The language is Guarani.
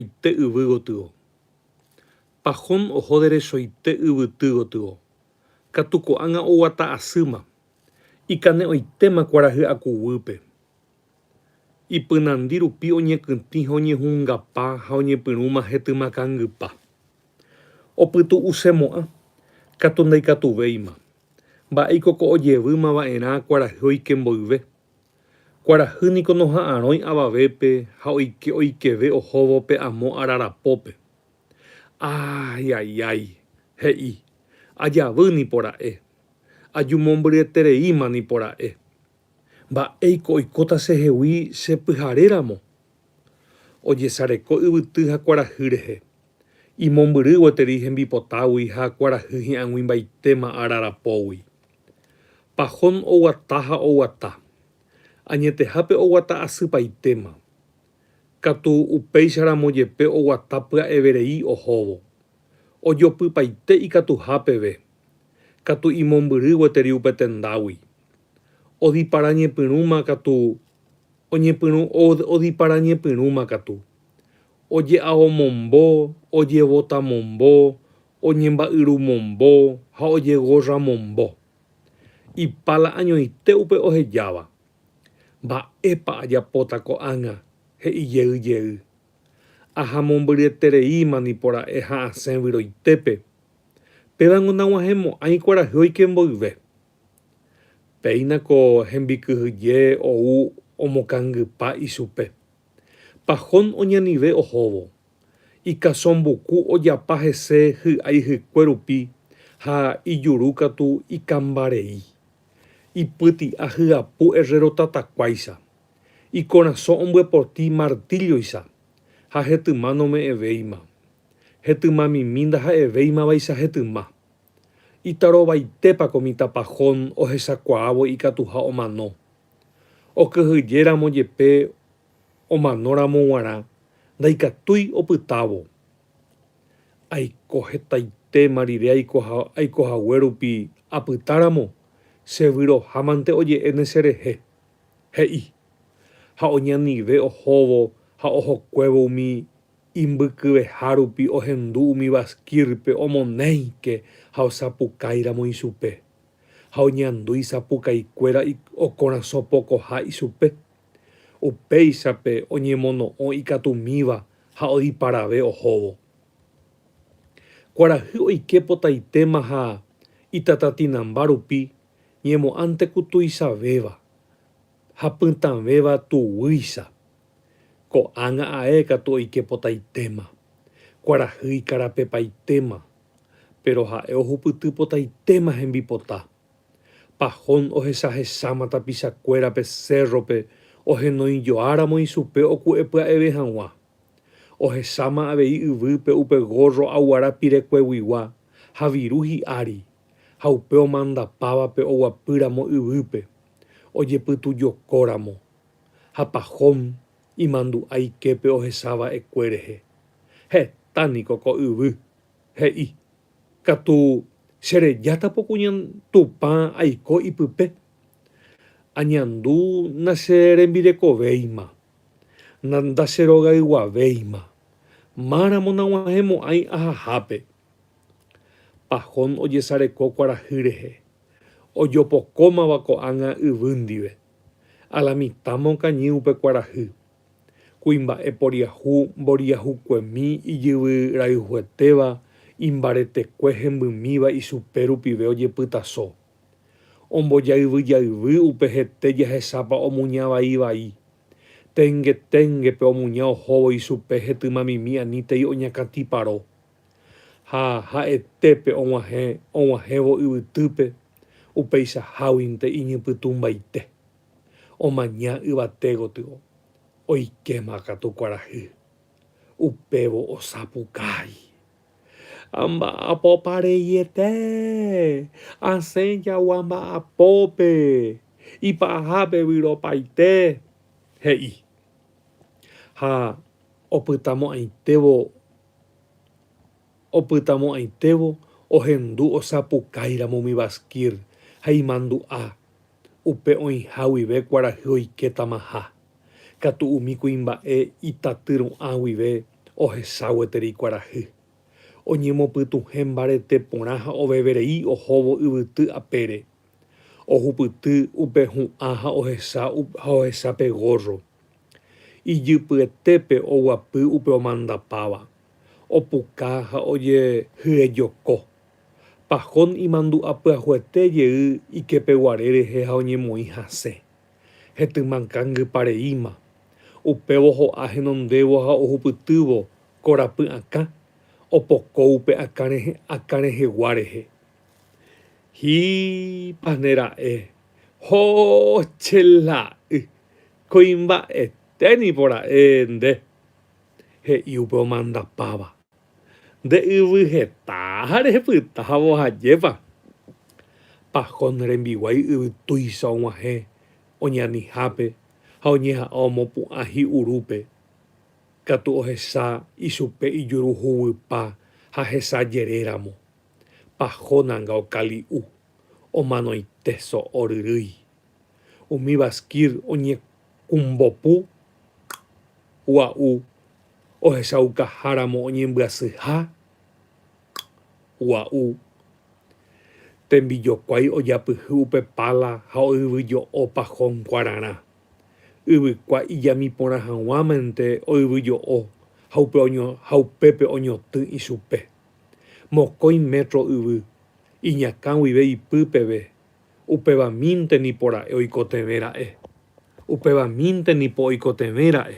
Ite yvy gotyo. Pahón oho derechoite yvyty gotyo. Katu ko'ág̃a oguata asýma. Ikane'õitéma kuarahy akuguýpe. Ipynandi rupi oñekytĩ ha oñehungapa ha oñepyrũma hetyma kangypa. Opytu'usemo'ã. Katu ndaikatuvéima. Mba'éiko ko ojevýma va'erã kuarahy oike mboyve. Kuarahy niko noha'arõi avavépe ha oike oikeve ohóvo pe amo ararapópe. Aaiaiái, he'i, ajavy nipora'e, ajumombyryetereíma nipora'e. Mba'éiko oikóta chehegui che pyharéramo? Ojesareko yvyty ha kuarahy rehe, imombyry gueteri hembipotágui ha kuarahy hi'ãguĩmbaitéma ararapógui. Pahón oguata ha oguata. Añetehápe oguata asypaitéma. Katu upéicharamo jepe oguata pya'everei ohóvo. Ojopypaite ikatuha peve. Katu imombyry gueteri upe tendágui. Odiparañepyrũma katu, oñepyrũ, odiparañepyrũma katu. oje'aomombo, ojevotamombo, oñemba'yrumombo ha ojegorramombo. Ipala añoite upe ohejáva. Mba'épa ajapóta ko'ág̃a? he'i jey jey. Ahamombyryetereíma nipo ra'e ha asẽ vyroitépe. Pévango nag̃uahẽmo'ãi kuarahy oike mboyve. Péina ko hembikyhyje ou omokangypa ichupe. Pahón oñanive ohóvo. Ikasõmbuku ojapa hese hy'aihykue rupi ha ijuru katu ikambarei. Ipyti'a hyapu errerotatakuáicha. Ikorasõ ombyepoti martílloicha ha hetyma nome'ẽvéima. Hetymamimi ndaha'evéimavaicha hetyma. Itarovaitépa ko mitãpa Jon ohechakuaávo ikatuha omano! Okyhyjéramo jepe omanóramo g̃uarã ndaikatúi opytávo. Aiko hetaitéma rire aiko hague rupi apytáramo, chevyrohámante oje'éne cherehe, he'i. Ha oñanive ohóvo ha ohokuévo umi Imbykyveha rupi ohendu umi vasquírpe omonéike ha osapukáiramo ichupe, ha oñandu isapukaikuéra okorasõ pokoha ichupe. Upéichape oñemono'õ ikatumíva ha odiparave ohóvo. Kuarahy oike potaitéma ha itatatinamba rupi ñemo'ãnteko tuichavéva. Ha pytãvéva tuguýicha. Ko'ág̃a ae katu oike potaitéma. Kuarahy ikarapepaitéma. Péro ha'e ohupyty potaitéma hembipota. Pahón ohechahecháma tapichakuéra pe sérrope ohenoijoáramo ichupe oku'epya'eve hag̃ua. Ohecháma avei yvýpe upe górro aguara pirekueguigua ha viru hi'ári, ha upe omandapávape oguapýramo yvýpe. ojepytujokóramo ha Pahom imandu'a iképe ohecha va'ekue rehe, heta niko ko yvy, he'i, Katu che rejáta puku Tupã aiko ipype, añandu nacherembirekovéima, ndacherogayguavéima, máramo naguahẽmo'ãi ahahápe. Pahom ojesareko kuarahy rehe. ojopokómava ko'ág̃a yvy ndive, a la mitã mokañy upe kuarahy, kuimba'e poriahu mboriahukuemi ijyvy rayhuetéva imbaretekue hembymíva ichupe rupive ojepytaso, ombojayvyjayvy upe hete jahechápa omuña vai vai, ténge téngepe omuña ohóvo ichupe hetymamimi anítei oñakãtiparo. Ha ha'ete pe og̃uahẽ og̃uahẽvo yvytýpe upeichaháguinte iñypytũmbaite, omaña yvate gotyo, oikéma katu kuarahy. Upévo osapukái. Ha mba'apópa reiete? Asẽ jagua mba'apópe, ipahápe vyropaite, he'i. Ha opytamo'ãitévo Opytamo'ãitévo ohendu osapukáiramo umi Bashkir ha imandu'a, upe oĩha guive kuarahy oike tamaha, katu umi kuimba'e itaty ru'ã guive ohecha gueteri kuarahy. Oñemopytuhẽ mbarete porã ha oveverei ohóvo yvyty apére. Ohupyty upe hu'ã ha ohecha pe górro. Ijypyetépe oguapy upe omandapáva, opuka ha ojehyejoko. Pajón imandu'a pyahuete jey ikepeguare rehe ha oñemoĩ hasẽ. Hetyma kangypa reíma. Upévo ho'a henondévo ha ohupytývo korapy akã, opoko upe akã rehegua rehe. Hípane ra'e! Ho che la'y! Kuimba'ete nipo ra'e nde, he'i upe omandapáva. Nde yvy heta ha rehepytávo hajépa. Pajón rembiguái yvy tuicha og̃uahẽ oñanihápe ha oñeha'ã omopu'ã hi'urúpe, katu ohecha ichupe ijuru huguýpa ha hesa jere ramo. Pajón anga okali'u, omanoite so'o ryrýi. Umi Bashkir oñekumbopu gua'u ohechaukaháramo oñembyasyha gua'u tembijokuái ojapyhy upe pála ha oyvyjo'o pahón kuararã. Yvykua ijami porã haguãmente oyvyjo'o ha upépe oñotỹ ichupe. Mokõi métro yvy, iñakã guive ipy peve. Upéva mínte nipo ra'e oikotevẽ ra'e. Upéva mínte nipo oikotevẽ ra'e.